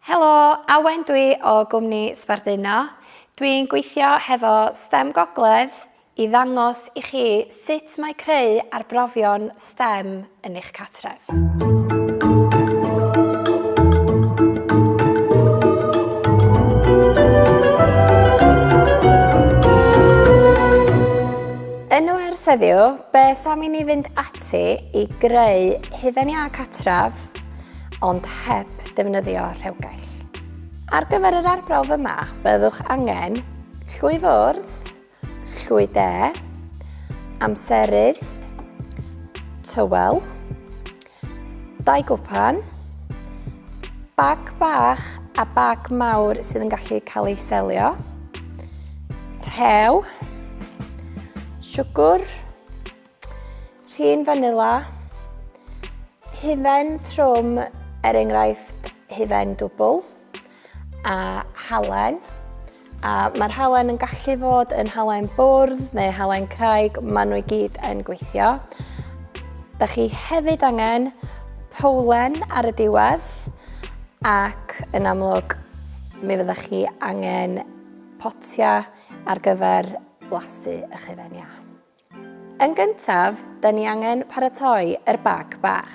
Helo, Awen dwi o gwmni Sbarduno. Dwi'n gweithio hefo stem Gogledd i ddangos i chi sut mae creu arbrofion stem yn eich cartref. Yn wers heddiw, beth am i ni fynd ati i greu hufen iâ cartref ond heb ddefnyddio rhewgell. Ar gyfer yr arbrawf yma, byddwch angen llwy fwrdd, llwy de, amserydd, tywel, dau gwpan, bag bach a bag mawr sydd yn gallu cael ei selio, rhew, siwgr, Rhin fanila, hufen trwm er enghraifft hufen dwbl a halen. A mae'r halen yn gallu fod yn halen bwrdd neu halen craig, maen nhw i gyd yn gweithio. Da chi hefyd angen powlen ar y diwedd ac yn amlwg mi fydda chi angen potia ar gyfer blasu eich hufen iâ. Yn gyntaf, da ni angen paratoi yr bag bach.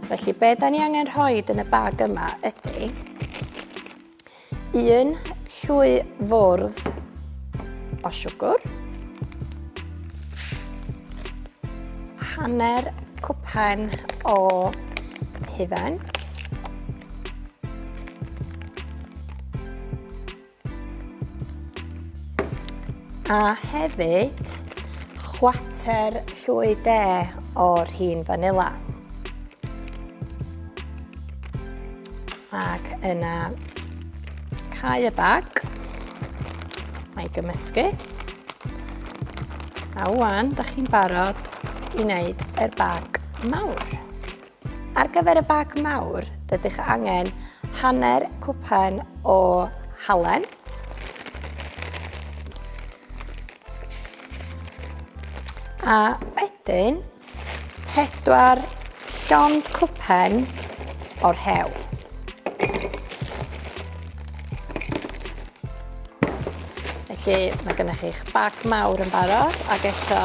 Felly, be da ni angen rhoi yn y bag yma ydy un llwy fwrdd o siwgr, hanner cwpan o hufen, A hefyd, chwater llwy de o'r hun fanila. Ac yna cau y bag. Mae gymysgu. A wan, da chi'n barod i wneud yr bag mawr. Ar gyfer y bag mawr, rydych angen hanner cwpan o halen, a wedyn pedwar llond cwpan o'r hew. Felly mae gennych chi'ch bag mawr yn barod ac eto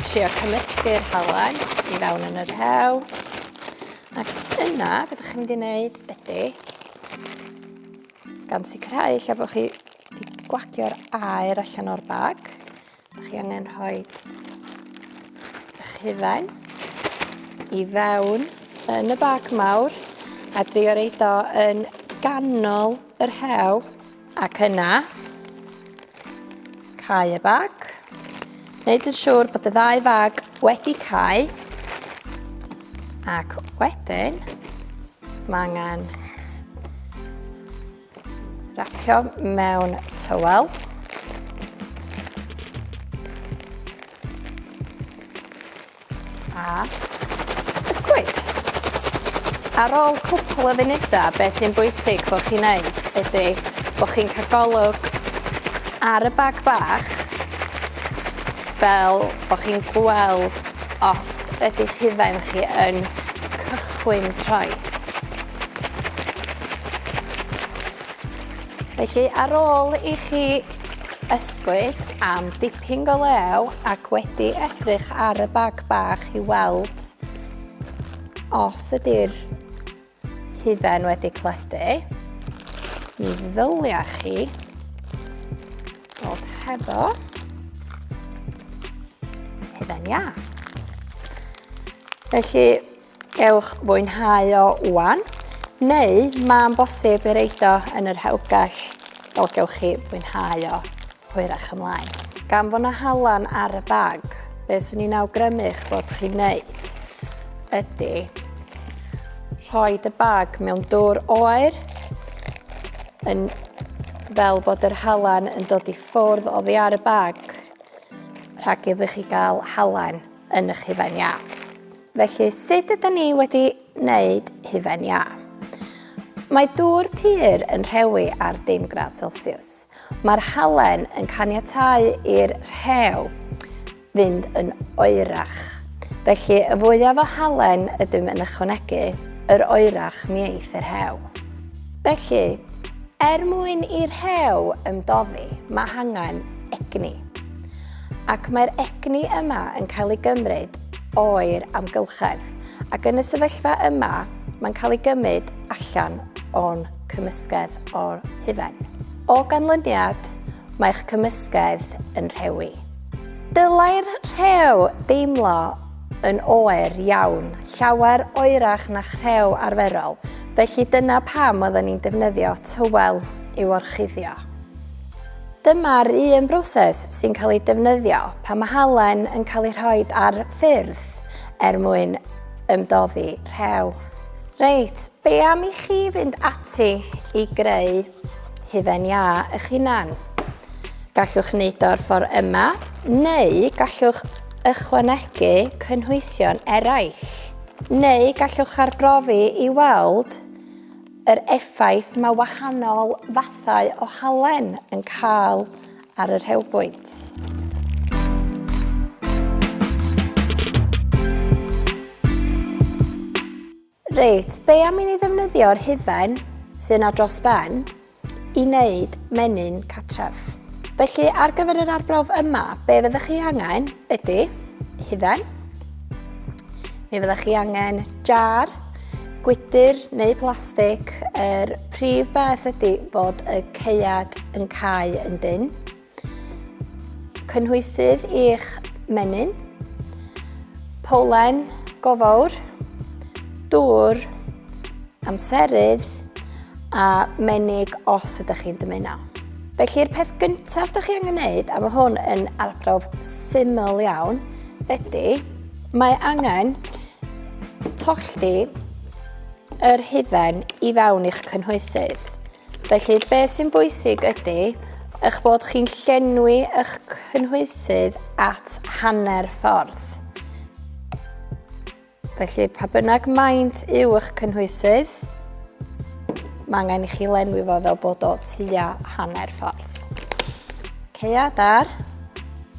trio cymysgu'r halen i fewn yn yr hew. Ac yna, beth chi'n mynd i wneud ydy, gan sicrhau lle bod chi wedi gwagio'r aer allan o'r bag, Dych chi angen rhoi eich hufen i fewn yn y bag mawr a drio reid o yn ganol yr hew ac yna cau y bag. Wneud yn siŵr bod y ddau fag wedi cau ac wedyn mae angen Racio mewn tywel. A ysgwyd. Ar ôl cwpl o funudau, be sy'n bwysig bod chi'n neud ydy bod chi'n cael golwg ar y bag bach fel bod chi'n gweld os ydy hufen chi yn cychwyn troi. Felly, ar ôl i chi ysgwyd am dipyn go lew ac wedi edrych ar y bag bach i weld os ydy'r hufen wedi cledu, mi ddylia chi bod hefo hufen iâ. Felly, Gewch fwynhau o wan, neu mae'n bosib ei reid o yn yr hewgell, fel gewch chi fwynhau o hwyrach ymlaen. Gan fod na halan ar y bag, beth swn i'n awgrymu eich bod chi'n neud ydy rhoi y bag mewn dwr oer yn fel bod yr halan yn dod i ffwrdd oddi ar y bag rhag iddo chi gael halan yn eich hufen iâp. Felly, sut ydyn ni wedi wneud hufen iâ? Mae dŵr pur yn rhewi ar dim gradd Celsius. Mae'r halen yn caniatau i'r rhew fynd yn oerach. Felly, y fwyaf o halen ydym yn ychwanegu, yr oerach mi eith yr rhew. Felly, er mwyn i'r rhew ymdoddi, mae hangen egni. Ac mae'r egni yma yn cael ei gymryd o'r amgylchedd, ac yn y sefyllfa yma mae'n cael ei gymryd allan o'n cymysgedd o'r hufen. O ganlyniad, mae'ch cymysgedd yn rhewi. Dylai'r rhew deimlo yn oer iawn, llawer oerach na'ch rhew arferol, felly dyna pam oeddwn i'n defnyddio tywel i'w orchuddio. Dyma'r un broses sy'n cael ei defnyddio pan mae halen yn cael ei rhoi ar ffyrdd er mwyn ymdoddi rhew. Reit, be am i chi fynd ati i greu hufen iâ eich hunan? Gallwch wneud o'r ffordd yma, neu gallwch ychwanegu cynhwysion eraill. Neu gallwch arbrofi i weld Yr effaith mae wahanol fathau o halen yn cael ar y rhewbwynt. Reit, be am i ni ddefnyddio'r hufen sy'n ar dros ben i wneud menyn catref? Felly ar gyfer yr arbrawf yma, be fyddwch chi angen ydy hufen, Mi fyddech chi angen jar, gwydr neu plastig. Yr er prif beth ydy bod y ceiad yn cael yn dyn. Cynhwysydd i'ch menyn. Polen gofawr. Dŵr. Amserydd. A menig os ydych chi'n dymuno. Felly'r peth gyntaf ydych chi angen gwneud, a mae hwn yn arbrawf syml iawn, ydy Mae angen tollti yr hufen i fewn i'ch cynhwysydd. Felly, be sy'n bwysig ydy eich bod chi'n llenwi eich cynhwysydd at hanner ffordd. Felly, pa bynnag maint yw eich cynhwysydd, mae angen i chi lenwi fo fel bod o tua hanner ffordd. Ceiad ar,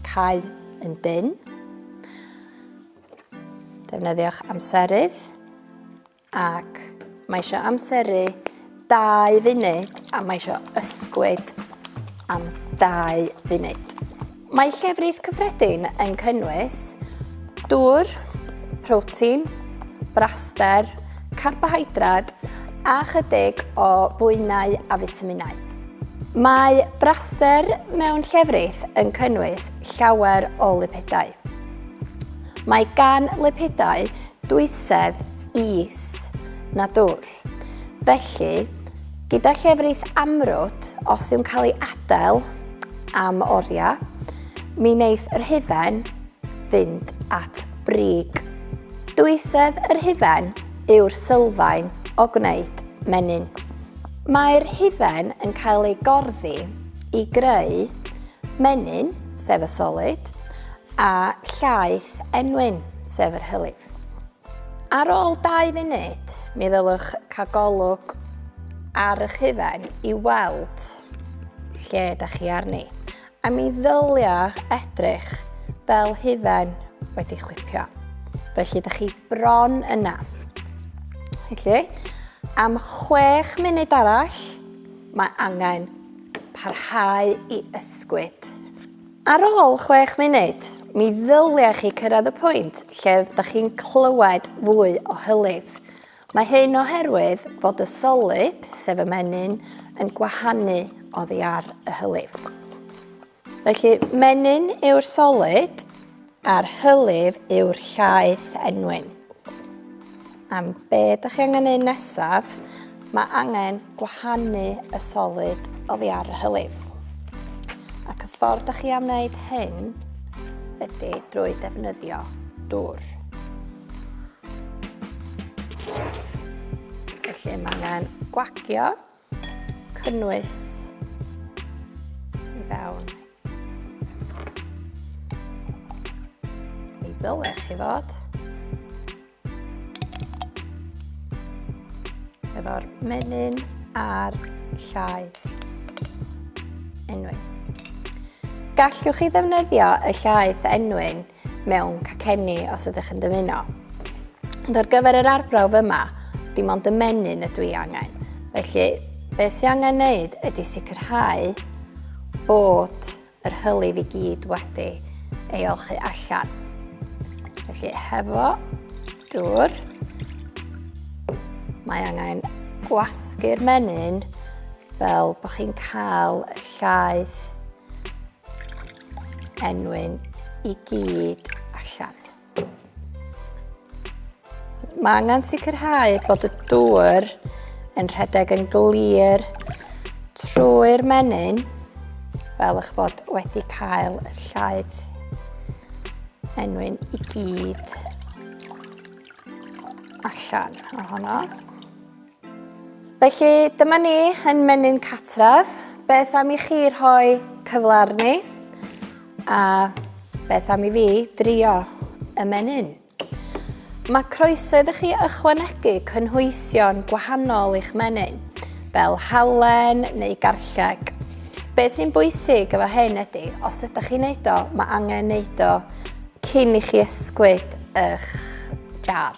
cael yn dyn. Defnyddiwch amserydd ac mae eisiau amseru 2 funud a mae eisiau ysgwyd am 2 funud. Mae llefrith cyffredin yn cynnwys dŵr, protein, braster, carbohydrad a chydig o bwynau a fitaminau. Mae braster mewn llefrith yn cynnwys llawer o lipidau. Mae gan lipidau dwysedd is na dwll. Felly, gyda llefrith amrwd, os yw'n cael ei adael am oriau, mi wneith yr hufen fynd at brig. Dwysedd yr hufen yw'r sylfaen o gwneud menyn. Mae'r hufen yn cael ei gorddi i greu menyn, sef y solid, a llaeth enwyn, sef yr hylif. Ar ôl dau funud, mi ddylwch cael golwg ar eich hufen i weld lle ydych chi arni. A mi ddylia edrych fel hufen wedi chwipio. Felly, da chi bron yna. Felly, am 6 munud arall, mae angen parhau i ysgwyd. Ar ôl 6 munud, mi ddylia chi cyrraedd y pwynt lle da chi'n clywed fwy o hylif. Mae hyn oherwydd fod y solid, sef y menyn, yn gwahanu oddi ar y hylif. Felly, menyn yw'r solid a'r hylif yw'r llaeth enwyn. Am be ydych chi angen neud nesaf, mae angen gwahanu y solid oddi ar y hylif. Ac y ffordd ydych chi am wneud hyn ydy drwy defnyddio dŵr. Felly mae angen gwagio, cynnwys i fewn. Mi ddyle chi fod. Efo'r menyn a'r llai. Enwyn. Gallwch chi ddefnyddio y llaeth enwyn mewn cacenni os ydych yn dymuno. Ond ar gyfer yr arbrawf yma, dim ond y menyn ydw i angen. Felly, be sy'n angen wneud ydy sicrhau bod yr hylif i gyd wedi ei olchu allan. Felly, hefo dŵr, mae angen gwasgu'r menyn fel bod chi'n cael llaeth enwyn i gyd allan. Mae angen sicrhau bod y dŵr yn rhedeg yn glir trwy'r menyn fel eich bod wedi cael y llaeth enwyn i gyd allan ohono. Felly, dyma ni yn menyn catref. Beth am i chi rhoi cyfle arni? A beth am i fi drio y menyn? Mae croeso iddo chi ychwanegu cynhwysion gwahanol i'ch menyn, fel halen neu garlleg. Be sy'n bwysig efo hyn ydy, os ydych chi'n neud o, mae angen neud o cyn i chi ysgwyd eich jar.